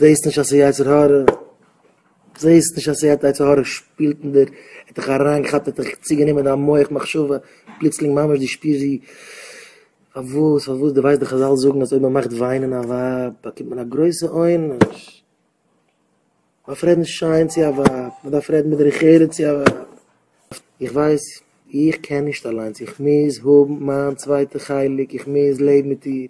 זעהסט נישט אז ס'איז יצר הרע? זעהסט נישט אז ס'העט יצר הרע שפילט אין דיר, האט דיך אריינגעכאפט, האט דיך צוגענומען דיין מח מחשבה, פלוצלינג ממש דו שפירסט ווי, פארוואס, פארוואס, דו ווייסט דאך חזל זאגן אז אויב מען מאכט וויינען א ווייב באקומט מען א גרויסע עונש, מען דארף רעדן שיין צו א ווייב, מען דארף רעדן בדרך ארץ צו א ווייב, איך ווייס, איך קען נישט אליינס, איך מוז האבן מיין צווייטע חלק, איך מוז לעבן מיט איר.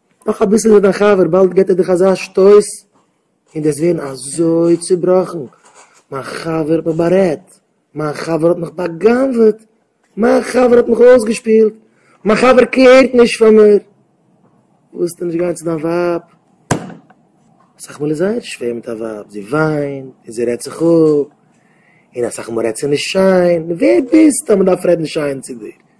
נאך אביסל איז ער דיין חבר, באלד געט ער דיך אזא שטויס און דו ווערן אזוי צובראכן, מיין חבר האט מיך בארעדט, מיין חבר האט מיך בא'גנב'עט, מיין חבר האט מיך אויסגעשפילט, מיין חבר קעירט נישט פאר מיר, ווילסטו נישט גיין צו דיין ווייב, אסאך מאל איז זייער שווער מיט א ווייב, זי וויינט און זי רעדט זיך אפ, און אסאך מאל רעדט זי נישט שיין, ווער ביסטו אז מען דארף רעדן שיין צו דיר?